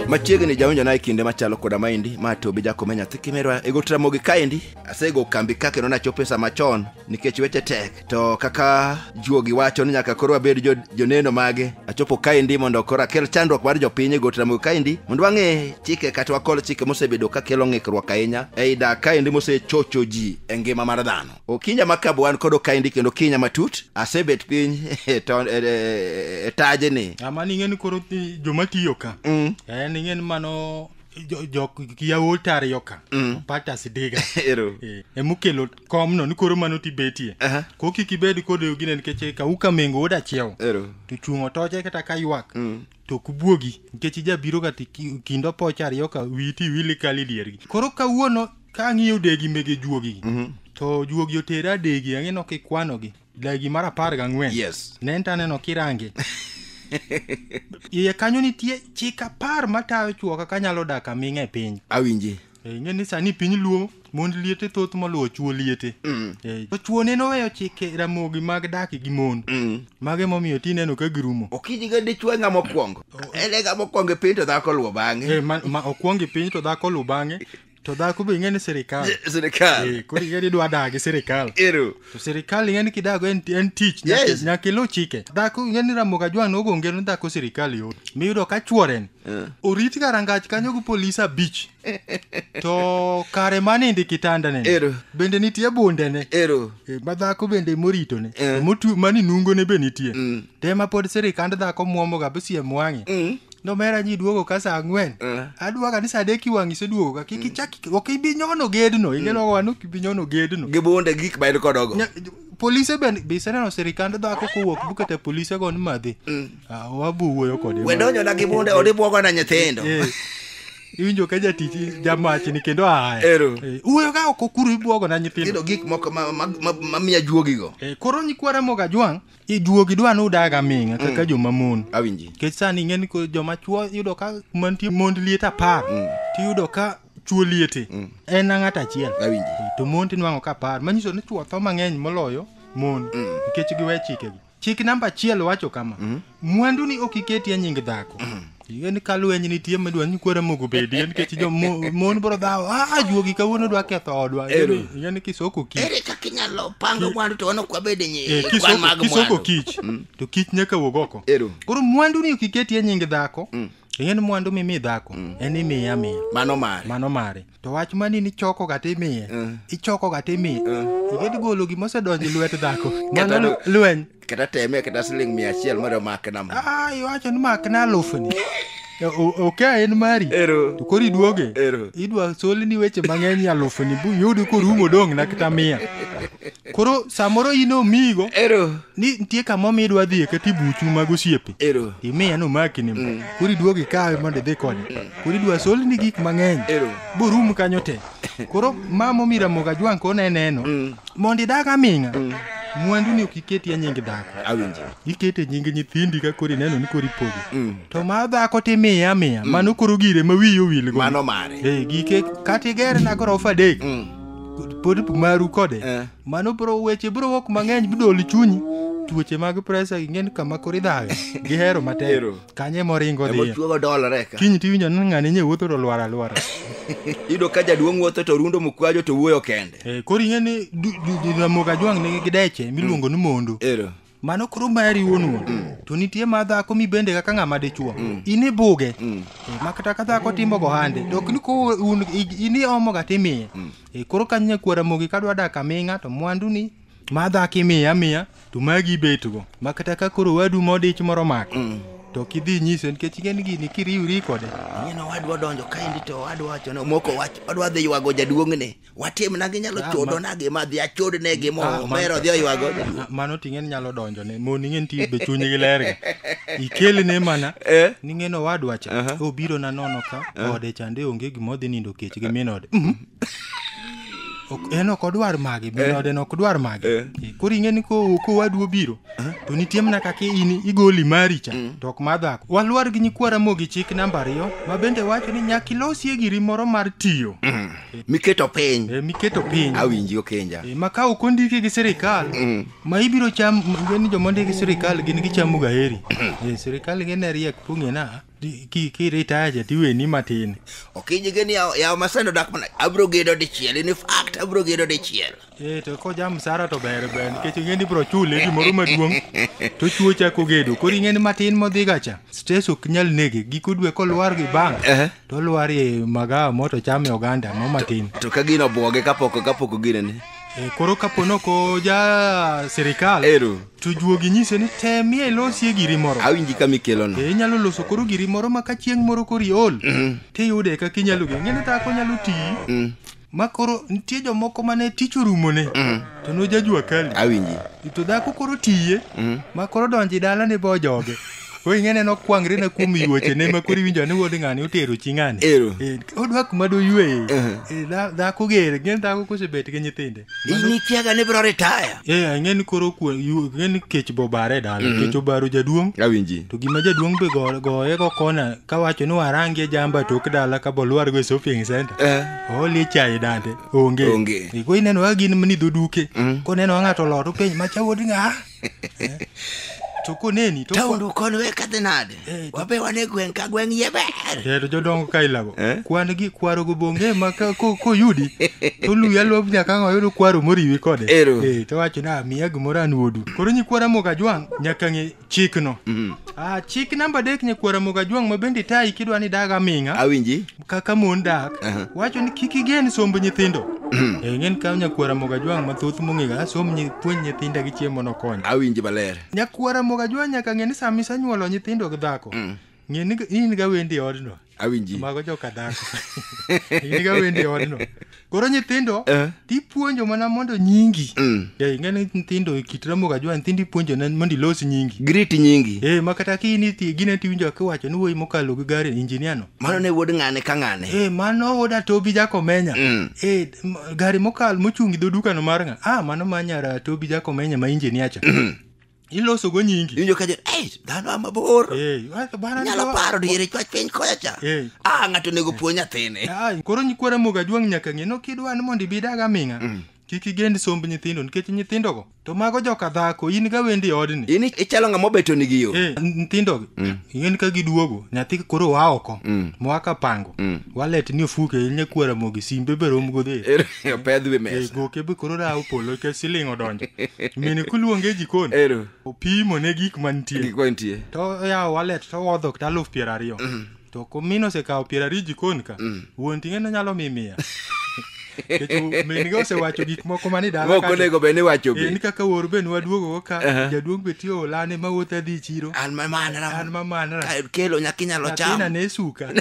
machiegni jawinjo na e kinde machalo koda maendi ma to bi jakome nyathi kimerwa e got ramogi kaendi asego kambi ka kendo nachopo e sa machon nikech weche tek to kaka juogi wacho ni nyaka koro wabed jo- joneno mage achopo kaendi mondo koro akel chandruok mar jopiny e got ramogi kaendi mondo wang'e chike kata wakol chike mosebedo ka kelo ng'ikruok ahinya ei dak kaendi mosechocho ji e ngima mar dhano okinya ma kabu an kod okaindi kendo okinya matut asebet piny e to- e- e- e tajni ama ning'eni koro ti- joma tiyo ka Mm. eh, ning'eni mano jo- jok yawuot ariyo ka opata sidiga Ero. Eh, emokelo komno ni koro mano tibetie Aha. ko kik ibed kodeyo gine nikech ka uka mengo wuod achiew Ero. to chung' otoche kata ka ywak to ok buogi nikech ijabiroga to iki- kind opoch ariyo ka wiyi to iwil ikal e diergi koro kawuono ka ang'iyo degi mege juogigi to juogi otera adegi ang'eno kikwanogi dagi mar apar gang'wen Yes. ne en to aneno kirange iye kanyo nitie chik apar matayo chuoka kanyalo dak aming'a e piny awinji Eh, ing'e ni sani piny luo mond liete thoth moluwo chuo liete mm. eh, to chuo neno weyo chike ramogi mag dak gi mon mm. mago emomiyo ti neno ka girumo okiji ga dichwo e ng'ama okwongo oh. en e ng'ama okwongo e piny to dhako luwo bang'e eh, ma okwongo e piny to dhako luwo bang'e to dhako be ing'e ni sirikal sirikal koro ing'e ni idwa dagi sirikal ero to sirikal ing'e ni kidago en, en tich nyaka- Yes. nyaka iluw chike dhako ing'e ni ramoga jwang' nogonge ni dhako sirikal yo miyudo ka chworen orit ga rangach kanyo gi polis abich to kare manindi kitandane Ero. bende nitie bundene ero Eh, ma dhako bende moritone Eh. motwe mani nungone be nitie te ma pod sirikand dhako mwomoga bsiem wang'e nomera nyi duogo ka saa ang'wen Eh. aduoga ni saa adek iwang' iseduogo ka kik ichak ok ibi nyono gedno ineno wa ni ok ibi nyono gedno gi bunde gi gik ma en kodogo Nya- polise bende be iseneno sirikand dhako kowuok bukete polise go ni madhi Ah, wabu wuoyo kode we donjona gi bunde od ibwogo na nyithindo Eh, iwinjo ka jatich jamachni kendo aya Ero. Eh, wuoyo ka ok okuru ibwogo na nyithindo nyithindo gik moko ma- ma- ma- mamiya juogigo Eh, koro nyikwara moga jwang' iduogi dwa ni udag aming'a kaka mm. joma mon awinji nikech sani ing'e ni joma chwo yudo ka mantie mond liet apar mm. tiyudo ka chwo liete mm. en ng'at achiel awinji to mon tinwang'o ka apar manyiso ni chwo tho mang'eny moloyo mon mm. nikech giwe chikegi chik namba achiel wacho kama mm. mwandu ni ok iketi e nying dhako mm. Yen ka lweny nitie midwa ni kwara moko bedie nikech jo mo- mon bro dhawo ah juogi kawuono dwa ketho odwa Ero. yen kisoko kich ere kaka inyalo pango mwandu to wana kwabed Eh, nyi kwan kisoko mag kisoko mwandu kich to kich nyaka wuog oko Ero. koro mwandu ni okiketie nying dhako yen mwandu mimi dhako en imiya miya mano mare mano mare to wach mani ni choko ga timiye Eh. ichoko ga timiye igedi golo gima osedonjo e lwet dhako Kata mano do- lweny kata teme kata siling mia achiel mondo omake nam Ah, iwacho ni mak na alufni E, o- ok a en mari Ero. to koro iduoge Ero. idwa solni weche mang'eny alufni bu yudi korumo dong' na kata mia koro samoro in omigo ero ni nitie kama omi idwa dhiye kata ibuchu mag osiepe ero imiye nomakini mm. koro iduog ikawe mondo idhi konye mm. koro idwa solni gik mang'eny ero borum kanyo te koro mama omi ramoga jwang' kona eneno mm. mondo idag aming'a mm. mwandu ni ok iketi e nying dhako awinjo ikete nying nyithindi ka koro ineno ni koro ipogo mm. to ma dhako timiye amiya mm. mano koro gire ma wiyi owilgo mano mare e, gike kata iger na gorofa adek mm. pod maru kode Eh. mano bro weche bro wok mang'eny bidol chunyi tuoche mag presa ging'en kama koro idhaga gihero matek Hero. kanye moringo dhiye emochuogo dolore ka kiny tiwinjo ni ng'ani nye wuotho to lwar alwara iyudo ka jaduong' wuotho to rundo mukwajo to wuoyo kende Eh, koro ing'e ni du- du- du- ramogi ajwang' nigi gideche miluongo ni mondo ero mano koro mari wuon wuon to nitie ma dhako mibende kaka ng'ama dichuo in ibuge Eh, ma kata ka dhako timo gohande to ok ni ko un i- in iomoga timiye Eh, koro ka nyakwara mogi ka dwa dak aming'a to mwanduni ma dhako imiye amiya to magi ibetgo ma kata ka koro wadu modich moro mako to kidhi nyise nikech ing'eni gini kiriwri kode Ing'e ni owadwa odonjo kaendi to owadwa wacho ni omoko wach odwa dhi ywago jaduong'ne watim na ginyalo ah, chodo na gima dhi achod ne gimo ah, mero dhi oywago ah, mano ting'e ni nyalo donjo ne mo ning'e ni tibe chuny gi ler ikele ne mana eh? ning'e no wadwa cha uh-huh. obiro na nono ka eh? ode chande onge gima odhi nindo kech gi min ode mhm. en ok odwar mage min eh? ode no ok dwar mage koro ing'e ni ko ko wadu obiro to nitie mana kaka in igoli mari cha mm. to ok mar dhako walwar gi nyikwara mogi chik namba ariyo ma bende wacho ni nyaka ilosie giri moro mar tiyo mm. miketo piny eh, miketo piny awinji okenja eh, ma ka ok ondiki gi sirikal mm. ma ibiro cham gin joma ondiki gi sirikal gin gichamo gaheri eh, sirikal gin e riek pung'ina kiritaya ki jatiweni matin okinyi gini yawo masando dak mana abiro gedo dichiel in fact abiro gedo dichiel Eh, to ko ja msara to ber ber nikech ing'e ni bro chule gimoro maduong' to chuo chako gedo koro ing'e ni matin modhi gacha stress ok nyal nege giko dwe kolwar gi bang Ehe. to olwar e magawa mo to chame oganda mo matin to ka gino obwoge kapok kapok ogine ni Eh, koro kapo ni ok oja sirikal Ero. to juogi nyise ni temie ilosie giri moro awinji kama ikelono Eh, inyalo loso koro giri moro ma ka chieng' moro kori ol tiyude kaka inyalo geng'e ni dhako nyalo tiyi ma koro nitie jomoko mane tich orumone mm. to nojajua kali awinji to dhako koro tiye mm. ma koro donji dala ni bo joge koro ing'e neno kwangre na kuom yuoche ne ma koro iwinjo ni wuod ng'ani otero chi ng'ani ero eh, odwa kuma doyueye uh-huh. eh, dhako gere ng'e dhako kosebet gi nyithinde ini kiaga ni bro retire e eh, ing'e ni koro ing'e ni kech bobare dala mm-hmm. kech obaro jaduong' awinji to gima jaduong' be goye go kona kawacho ni warangie jamba tok dala ka bolwar go e shopping center Eh. olie chai dande onge Onge. E, ko ineno kaka gin ni dhoduke koneno ng'ato lot openj macha wuod ng'a Eh. to koneni to Taundu kon we kadhi nade? Eh, to- Wabe wane gweng' ka gweng' ye ber. Eh, to jodongo ka ilago Eh? kwan gi kwaro go bonge ma ka- ko- koyudi to luya lop nyaka ang' oyudo kwaro moriwi kode Ero. Eh, to wacho ni amiya gimoro an wuodu koro nyikwara mok ajwang' nyaka ng'e chikno mm. ah, chik namba adek nyakwara mogajwang' ma bende itayi kidwa ni dag aming'a awinji kaka mon dak uh -huh. wacho ni kik igen somb nyithindo mm. e ng'en kaw nyakwara mogajwang' mathoth mong'ega som puonj nyithinda gi chiemo nokonya awinji maler nyakwara mogajwang' nyaka ng'e ni sama isanyuolo nyithindo gi dhako mm. Ng'e ni in ga wendi e odno. Awinji. Mago joka dhako. in ga wendi e odno. Koro nyithindo Eh. tipuonjo mana mondo nyingi. Mm. Yeah, ing'e ni nyithindo e kit Ramogi Ajwa nyithindo ipuonjo na- mondo ilos nyingi. Grit nyingi. Eh, ma kata ki in iti gine tiwinjo kiwacho ni wuoyi mokalo gi gari injinia no. Mano ne wuod ng'ane ka ng'ane. Eh, mano wuoda Tobi Jakomenya. Mm. Eh, m- gari mokalo mochung' gi dho dukano mar ng'a. Ah, mano ma nyara Tobi Jakomenya ma injinia cha. iloso go nyingi iwinjo ka jo ei dhano ama bor Eh, wa- bwana nyalo ndio- paro diere chwach piny koya cha Eh. ah ng'ato onego puo nyathine Ah, koro nyikwara moga juang' nyaka ng'e no kidwa ni mondo ibidag aming'a kik igend somb nyithindo nikech nyithindogo to mago joka dhako in ga wendi e odni in ichalo ng'ama obeto nigi yo Eh, nyithindogi ing'eni ka giduogo nyathi koro wa oko moa ka pango walet ni ofuke nyakwara mogi simbe be romgo dhi opedh wi mesa goke be koro rawo polo nikech siling odonjo mine kuluonge jikon ero opimo ne gik mantie gik mantie to oyawo wallet to owodho kata aluf piero ariyo mm. to komin osekawo piero ariyo jikon ka mm. wuon ting'e ne nyalo mi miya min ga osewacho gik moko mani dalaok onego bed ni wacho be en kaka wor be nwaduogogo ka jaduong' be tiyo olane mawuoth adhi chiro an mamanra an mamanra kelo nyakinyalo cham ne suka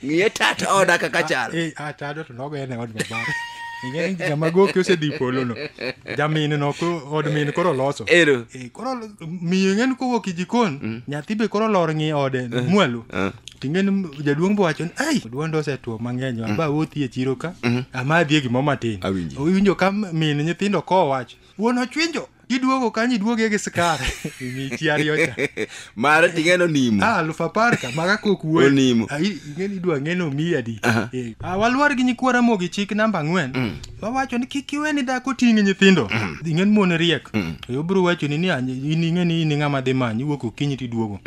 ng'iye tat oda kaka chal Eh, ah, tado to nogo en e od babare ing'e ni ng'ama goki osedhi polono jaminno ko od min koro loso ero Eh, koro miyo ing'e ni kowuok e jikon nyathi be koro lor ng'i ode mwalo Eh. ting'e ni jaduong' bowacho ni ai duonda osetuo mang'eny wa ba wuothi e chiro ka amadhi e gimoro matin Awinji. iwinjo ka min nyithindo kowacho Wuon ochwinjo, iduogo kanyo iduoge gi skar. Michi ariyo cha. Mara ting'eno nimo. Ah, alufu apar ka maga kok wuoyi. Onimo. Ah, i- ing'eni idwa ng'eno miyi adi. Aha. Eh, ah, waluor gi nyikwa Ramogi chik namba ang'wen. Wawacho ni kik iwe ni dhako ting' nyithindo. Ing'en mon riek. Yo bro wacho ni ni ah, in ing'eni in ng'ama dhi manyi iwuok okinyi tiduogo.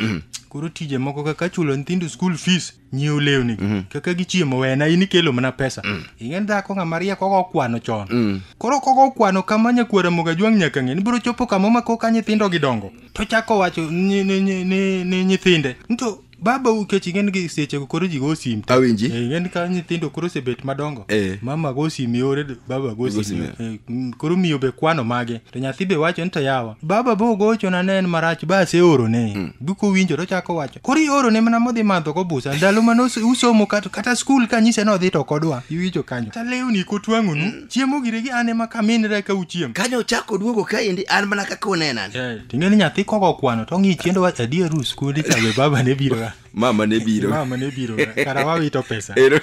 Koro tije moko kaka chulo nyithindo school fees. nyiew lewni mm. kaka gichiemo wena in ikelo mana pesa mm. ing'en dhako ng'ama riek kogo okwano chon mm. koro kogo okwano kama nyakwara moga jwang' nyaka ng'e ni biro chopo kama ma koka nyithindo gidongo to chako wacho ni, ni, ni, ni, ni nyithinde nto baba ukech ing'en gi sechego koro ji go sim awinji eh, ing'en ka nyithindo koro osebet madongo eh. mama go sim yore baba go sim eh, koro miyo be kwano mage to nyathi be wacho ni to yawa baba bo gochona ne en marach ba aseorone mm. gikowinjo to chako wacho koro ioro ne mana modhi madho go busa ndalo mane us- usomo kata, kata skul ka nyise ni odhi to kodwa iwinjo kanyo ta lewni kotwang'onu chiemo giregi an ema kaminre ka uchiem kane ochako oduogo kaendi an mana kaka unenan ting'e ni nyathi kogo kwano to ng'i chiendo wa adier u skundi ka be baba ne biro ga mama ne biro mama ne biro ga kara wawito pesa Ero.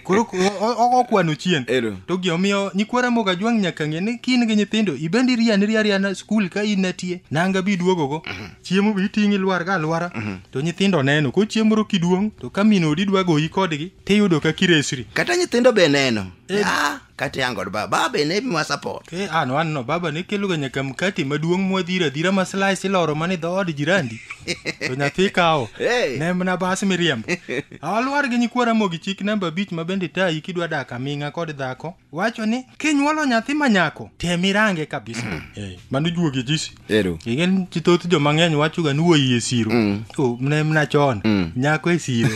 koro ko- o- o- ogo kwano chien Ero. to gi omiyo nyikwara moga jwang' nyaka ng'e ni kin gi nyithindo ibendi riani riariana skul ka in natie nanga bi duogogo chiemo be iting' ilwarga alwara mhm. to nyithindo neno ko chiemo moro kiduong' to ka min odi dwa goyi kodgi tiyudo ka kiresri kata nyithindo be neno eh. ah, kata yango od baba baba ne miwa support e eh, an wanno baba ne keloga nyaka mkati maduong' mwadhiro adhira ma slice iloro mana e dhood jirandi to nyathi kawo eh. ne mna bas miriambo alwar gi nyikwara mogi chik namba abich ma bende tayi kidwa dak aming'a kod dhako wacho ni kinyuolo nyathi ma nyako tem irange kabisa Eh, mano juogi jisi Ero. igen ji thoth joma ng'eny wachoga ni wuoyi e siro O, mne mna chon nyako e siro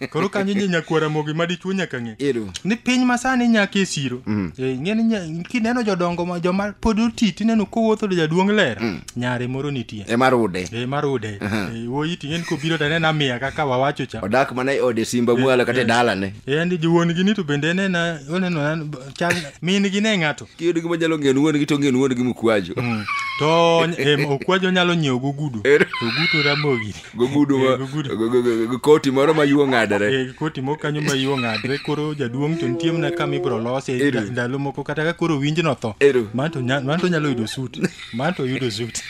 koro kanyo nye nyakwara mogi ma dichuo nyaka ng'e Ero. ni piny masani nyako e siro Eh, ing'e ni nya- kineno jodongo ma- joma pod oti tineno kowuotho to jaduong' ler nyare moro nitie Ema rude. Eh, marude Eh, wuoyi ting'eni kobiro to anena miya kaka wawacho cha Odak mana e ode simba mwalo kata e dalane. Yaani jowuon gi ni to bende ne na oneno na chal min gi ne ng'ato. Kiyud gima nyalo ng'en wuon gi to ng'en wuon gi mukwajo. Mm. To em, okwajo nyalo nyiewo gogudu. Er. Ogudu ramogi. Gogudu ma Eh, gogudu. go- go- go- go- koti moro ma yuo ng'adore. Eh, koti moko kanyo ma yo ng'adre koro jaduong' to nitie mana kama ibro lose Ero. nda- ndalo moko kata ka koro winj no tho Ero. man to nya- man to nyalo yudo sut man to oyudo sut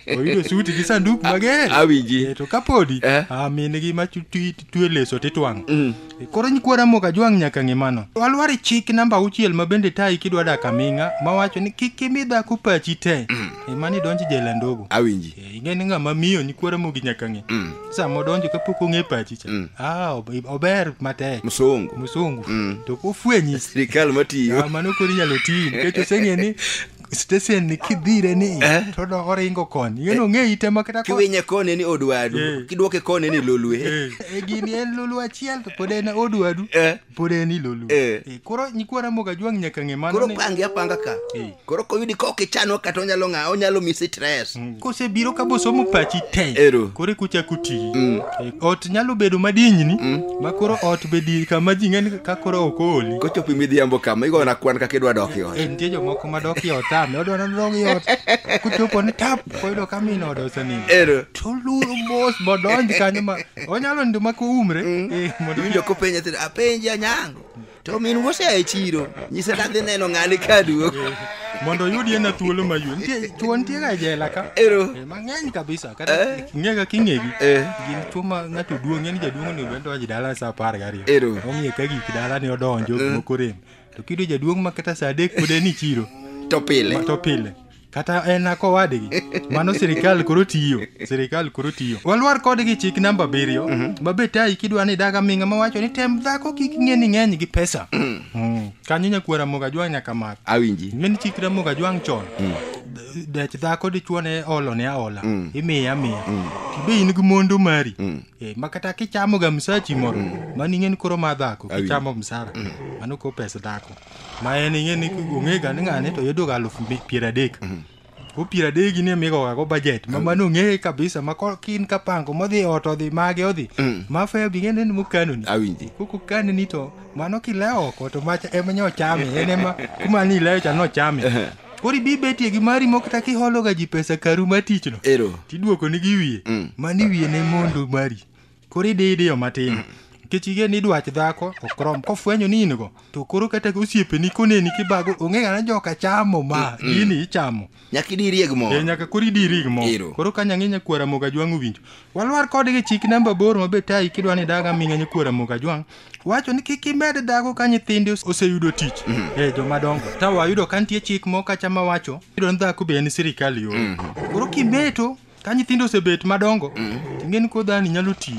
oyudo sut gi sanduk mager Awinji. Eh, to kapodi Eh. ah, min gi ma chu- twi- twe leso titwang' mm. koro nyikwa ramogi ajwang' nyaka ng'e mano walwar e chik namba auchiel ma bende tayi kidwa dak aming'a mawacho ni kik imi dhako pachi te mm. ema ni donj jela ndogo awinji e, ing'e ni ng'ama miyo nyikwa ramogi nyaka ng'e mm. sama odonjo kapok ong'e pachi cha mm. ah, ober matek musungu musungu mm. to kofwenyi sirikal matiyo ah, mano koro inyalo tiyi nikech oseng'e ni stesen ni kidhire ni Eh. to do oringo koni yeno ng'e ite ma kata ko- kiwinye kone ni odwadu Eh. kidwoke kone ni lolwe Eh, eh, gini en lulu achiel to pod en odwadu Eh. pod en ilolu Eh. Eh, koro nyikwa ramogi ajwang' nyaka ng'e mano koro ni- pange apanga ka Eh. koro koyudi ka ok ichano kata onyalo ng'a onyalo misi tres kosebiro ka bosomo pachi te Ero. koro ekuchako tiyi Mm. E, ot nyalo bedo madinyni Mm. ma koro ot be di kama ji ng'eni ka koro ok ooli kochopo midhiambo kama igona kwan kaka idwa dok e ot Eh, nitie jomoko madok i ot ame odwa nodog i ot kochopo ni tap koyudo ka min ode osenindo ero to lur mos modonj kanyo ma onyalo nindo ma koumre Eh, mondo winjo kopenja tira apenji anyango to min wosea e chiro nyise nadhi neno ng'ani ka duogo eh, mondo oyudie na thuolo maywe nitie chuo nitie ga e jela ka ero eh, mang'eny kabisa kata eh. ng'e ka king'egi gin chuo ma ng'ato duong' ng'eni jaduong' onego bed donjo dala sa apar gariyo ero ong'e ka gik dala ne odonjo moko rem to kiyudo jaduong' ma kata sa adek pod en ichiro to pile to pile kata en ako wadgi mano sirikal koro tiyo sirikal koro tiyo walwar kodgi chik namba abiriyo mm -hmm. mabe tayi kidwa ni daga minga mawacho ni tem dhako kik ng'e ni ng'eny gi pesa mm. Mm. kanyo nyakuo ramoga jwang' nyaka mak awinji min chik ramoga jwang' chon mm. dech dhako dichuo ne olo ne aola mm. imiye amiya mm. tibe in gi mondo mari mm. e, eh, makata kichamoga msachi moro mm. mani ng'en koro ma dhako kichamo msara mm. mano ko pes dhako ma en ing'e ni ong'ega ni ng'ane to yudoga alufu mi- piero adek ko piero adek gi ni emigogago bajet ma mano ong'eye kabisa ma ko- kin kapango modhi e ot odhi mage odhi ma fe bi ng'ene ni mokanoni awinji koko kaneni to mano kilewo oko to macha ema nyo chame en ema kuma ni ilewo cha nochame koro ibi betie gi mari moko kata kihologa ji pesa karu ma tichno ero tiduoko ni gi wiye Mm. mani wiye ne mondo mari Koro idi idiyo matin. Nikech ige ni dwach dhako ok rom kofwenyo ni in go to koro kata osiepeni koneni kibago onge ng'ana joka chamo ma gini ichamo. Nyaka idi irieg mo. Eh, nyaka koro idi irig mo. Ero. Koro ka nyang'i nyakwara moga jwang' owinjo. Walwar kodgi chik namba aboro ma be tayi kidwa ni daga ming'a nyakwara moga jwang'. Wacho ni kik imed dhago ka nyithinde ose- oseyudo tich. Eh, joma dongo. Ta wayudo ka nitie chik moko kacha ma wacho. Iyudo ni dhako be en sirikal yo. Koro kimeto ka nyithindo osebet madongo ting'eni koro dhani nyalo tiyo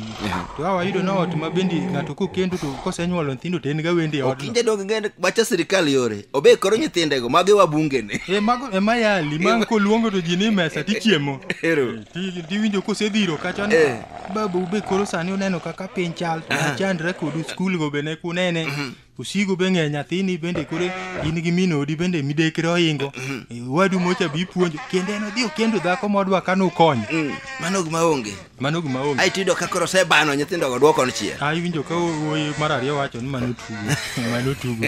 to a wayudo na ot ma bende ng'ato kokendo to kosenyuolo nyithindo to en ga wende e odno Okinde dong ngende wacha sirikal yore. Obe koro nyithindego mage wabungene. e mago e mayali ma koluongo to ji ni mesa tichiemo Ero. Ti- tiwinjo kosedhiro kacha ni Eh. babu be koro sani uneno kaka piny chal to Aha. nachandra kodu skul go be ne kunene Osigo be ng'e nyathini bende koro in gi min odi bende midekre ohingo. Eh, Wadu mocha bi puonjo kendo en odhi okendo dhako modwa kano ukonyo. Mm, Mano gima onge. Mano gima onge. Ai tiyudo ka koro osebano nyithindo go duoko chiel. Ah, iwinjo ka wuoyi mar ariyo wacho ni mano tugo. mano tugo.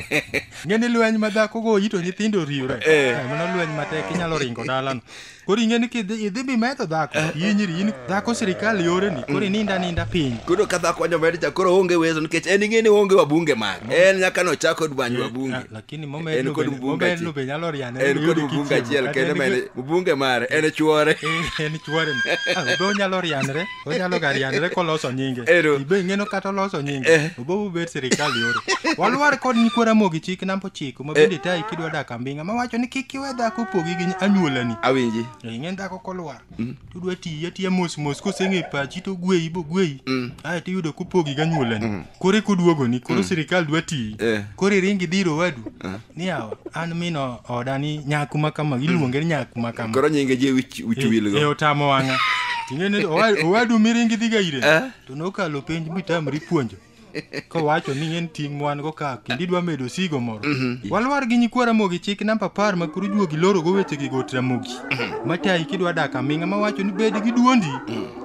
Ng'e ni lweny ma dhako go ito nyithindo riwre. Eh. Eh, Mano lweny matek inyalo ringo dalano. Koro ing'e ni kidhi idhi bimetho dhako, inyiri in dhako sirikal yoreni, koro ininda ninda piny. Koro ka dhako nyomed cha koro onge wezo nikech en ing'e ni onge wabunge mag. En nyaka no chako dwany wabunge. Ah, Lakini En momedno kod be- mbunga momedno achiel. be nyalo riane. En kod mbunga achiel kendo men mbunge mare en chwore. En chwore. Ah, Be onyalo rianre. onyalo ga riandre koloso nyinge Ero. ibe ing'eno kata oloso nyinge Eh. obobu bet sirikal yoro walwar kod nyikwa ramogi chik namba ochiko ma bende tayi kidwa dak ambinga mawacho ni kik iwe dhako pogi gi anyuolani awinji E, ing'e dhako kolwar tudwa tiye tiye mos mos koseng'e pachi to gweyi bo gweyi ae to iyudo kopogi gi anyuolani koro ekuduogoni koro sirikal dwa tiyi Eh. koro iringi dhiro wadu niyawa an min o- oda ni nyaku ma kama iluonge ni nyaku ma kama koro nyinge je wich wich e wilgo otamo wang'a ting'eni owa- owadu miringi dhiga ire Eh. to nokalo penj mitamri puonjo kowacho ni en ting' mwan-go ka kendo idwa medo osigo moro walwar gi nyikwa ramogi chik namba apar ma koro juogi lorogo wechegi got ramogi matayi kidwa dak aming'a mawacho ni bed gi duondi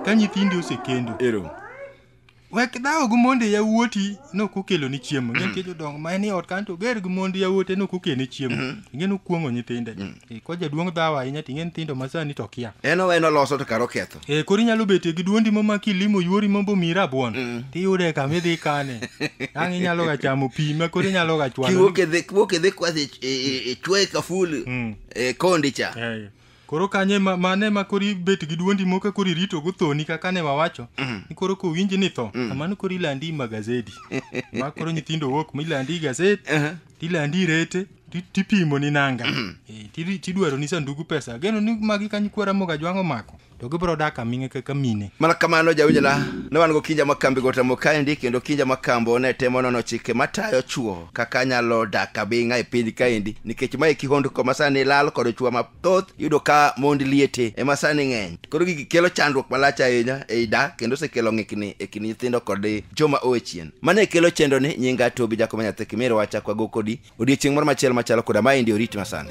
ka nyithindi osekendo ero Wek dhawo gi monde yawuoti nok okeloni chiemo. Ng'e nitie jodongo ma en e ot kanyo to ger gi mond yawuote nok okelne chiemo. Ing'e ni okuong'o nyithinde. Eh, Ka jaduong' dhawo ahinya to ing'e ni nyithindo ma sani to kia. En owe en oloso to kara oketho. Eh, koro inyalo betie gi duondi mama kilimo yuori mondo omiyi rabuon. Tiyude kama idhi kane. Ang' inyalo ga chamo pi ma koro inyalo ga chwalo. Kiwuok e dhi kiwuok e dhi kwath e- e- e- e chwe kaful Mm. e kondi cha. Eh, Koro kanyo ema mano ema koro ibet gi duondi moko koro irito go thoni kaka ne wawacho ni koro kowinji ni tho kamano koro ilandi magazedi ma koro nyithindo wuok ma ilandi gazet tilandi rete ti- tipimo ni nanga Eh, tiri- tidwaro ni sandugu pesa ageno ni magi kanyo kwara moga jwang'o mako to gibro dak aming'e kaka mine mana kamano jawinjona ne wan go kinja ma kambi gotamo kaendi kendo kinja ma kambo ne temo nono chike matayo chuo kaka anyalo dak abing'a e piny kaendi nikech mae kihondko ma sani lal kod chwa mathoth yudo ka mond liete ema sani ng'eny koro gigi kelo chandruok malach ahinya ei dak kendo osekelo ng'ikni e kind nyithindo kod joma owe chien mano e kelo chendoni nyinga tobi jakoma nyathi kimiro wacha kwago kodi odiechieng' moro machielo machalo koda maendi orit masani